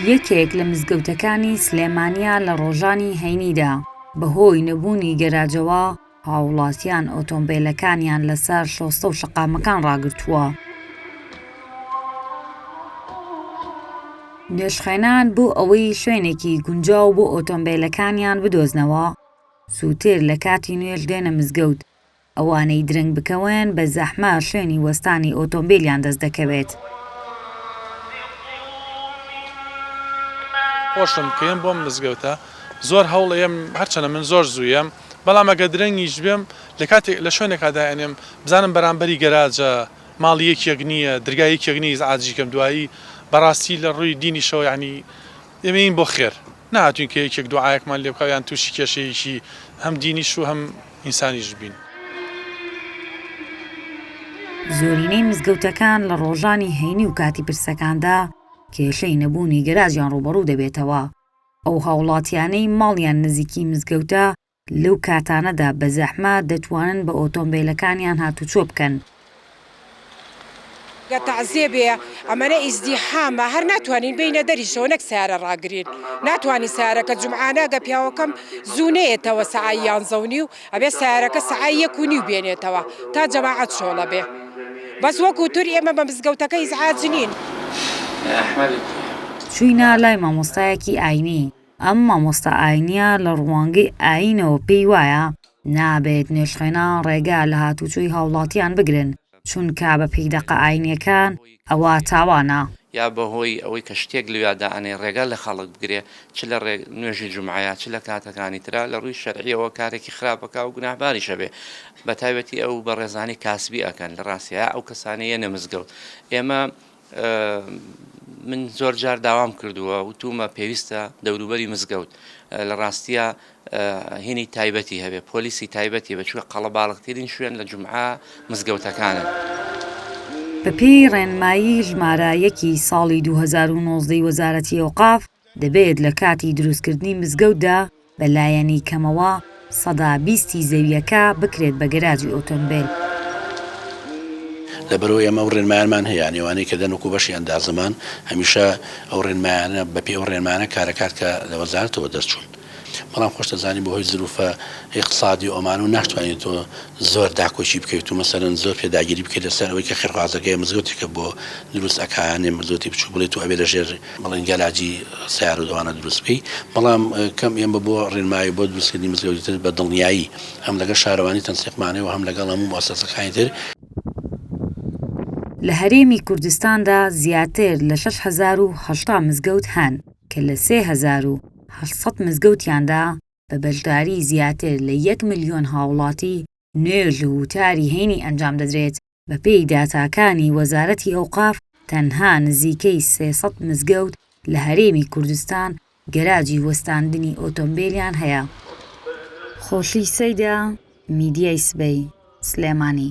یەکێک لە مزگەوتەکانی سلێمانییە لە ڕۆژانی هەینیدا بەهۆی نەبوونی گەراجەوە هاوڵاتیان ئۆتۆمبێلەکانیان لەسەر شۆستە و شەقامەکان ڕاگرتووە. نوێژخوێنان بۆ ئەوەی شوێنێکی گونجاو بۆ ئۆتۆمبێلەکانیان بدۆزنەوە زووتر لە کاتی نوێژ دێنە مزگەوت ئەوانەی درەنگ بکەون بە زەحمە شوێنی وەستانی ئۆتۆمبیلیان دەست دەکەوێت. خۆشم بکەیەم بۆم مزگەوتە زۆر هەوڵ ئەیەم هەرچەنە من زۆر زوو یەم بەڵام ئەگەر درەنگیش بێم لە کاتێک لە شوێنێکا دائەنێم بزانم بەرامبەری گەراجە ماڵی یەکیەک نییە درگای یەکیەک نیە ئیزعاجی کەم دوایی بەڕاستی لە ڕووی دینیشەوە یەعنی ئێمە یین بۆ خێر نەهاتووین کە یەکێک دوعایەکمان لێ بکا یان تووشی کێشەیەکی هەم دینیش و هەم ئینسانیش بین. زۆرینەی مزگەوتەکان لە ڕۆژانی هەینی و کاتی پرسەکاندا کێشەی نەبوونی گەراجیان ڕووبەڕوو دەبێتەوە، ئەو هاوڵاتیانەی ماڵیان نزیکی مزگەوتە لەو کاتانەدا بە زەحمە دەتوانن بە ئۆتۆمبێلەکانیان هاتوچۆ بکەن، گەر تەعزیە بێ ئەمەنە ئیزدیحامە هەر ناتوانین بێینە دەریشەوە نەک سەیارە ڕاگرین ناتوانین سەیارەکە جومعانە گە پیاوەکەم زوو نەیەتەوە سەعای یانزە و نیو ئەبێ سەیارەکە سەعای یەک و نیو بێنێتەوە تا جەماعەت چۆڵە بێ بەس وەکو تور ئێمە بە مزگەوتەکە ئیزعاج نین. چووینە لای مامۆستایەکی ئاینی. ئەم مامۆستا ئاینیە لە ڕوانگەی ئاینەوە پێی وایە نابێت نوێژخوێنان ڕێگا لە هاتوچۆی هاوڵاتیان بگرن چونکە بە پێی دەقە ئاینیەکان ئەوە تاوانە. یا بەهۆی ئەوەی کە شتێک لەویا دائەنێ ڕێگا لە خەڵک بگرێ چ لە ڕێ نوێژی جومعەیا چ لە کاتەکانی ترا لە ڕووی شەرعیەوە کارێکی خراپە کاو گوناهباریشە بێ بەتایبەتی ئەو بەڕێزانەی کاسبی ئەکەن لە ڕاستیا ئەو کەسانەی یەنە مزگەوت ئێمە من زۆر جار داوام کردووە وتومە پێویستە دەوروبەری مزگەوت لە ڕاستیە هینی تایبەتی هەبێ پۆلیسی تایبەتی بەچوە قەڵە باڵکترین شوێن لە جمعە مزگەوتەکانن. بەپێی ڕێنمایی ژمارە یەکی ساڵی دوو هەزار و نۆزدە ی وەزارەتی ئەوقاف، دەبێت لە کاتی دروستکردنی مزگەوتدا بە لایەنی کەمەوە سەدا بیستی زەوییەکە بکرێت بە گەراجی ئۆتۆمبێل. لەبەرئەوەی ئێمە ئەو رێنمایانمان هەیە، یانی ئەوانەی کە دەن وەکو بەشی ئەندازەمان، هەمیشە ئەو رێنمایانە، بەپێی ئەو رێنمایانە کارەکات کە لە وەزارەتەوە دەرچوون. بەڵام خۆشت ئەزانی بەهۆی زروفە ئیقتسادی ئۆمان و ناشتوانی تۆ زۆر داکۆکی بکەیت و مەسەلەن زۆر پێداگیری بکەیت لەسەر ئەوەی کە خێرخوازەکە یە مزگەوتێکە بۆ دروست ئەکا یانێ مزگەوتی بچوک بڵێ تۆ ئەبێ لەژێر بڵێن گەراجی سەیارو ئەوانە دروست بکەی بەڵام کەم ئێمە بۆ ڕێنمایی بۆ دروستکردنی مزگەوتی تر بە دڵنیایی هەم لەگەڵ شارەوانی تەنسیقمانێ و هەم لەگەڵ هەموو موسەسەکانی تر لە هەرێمی کوردستاندا زیاتر لە شەش هەزار و هەشتا مزگەوت هەن. کە لە سێ هەزار و هەشت سەد مزگەوتیاندا بە بەشداریی زیاتر لە یەک ملیۆن هاوڵاتی، نوێژ و وتاری هەینی ئەنجام دەدرێت، بەپێی داتاکانی وەزارەتی ئەوقاف تەنها نزیکەی سێ سەد مزگەوت لە هەرێمی کوردستان گەراجی وەستاندنی ئۆتۆمبێلیان هەیە. خۆشی سەیدا، میدیای سبەی، سلێمانی.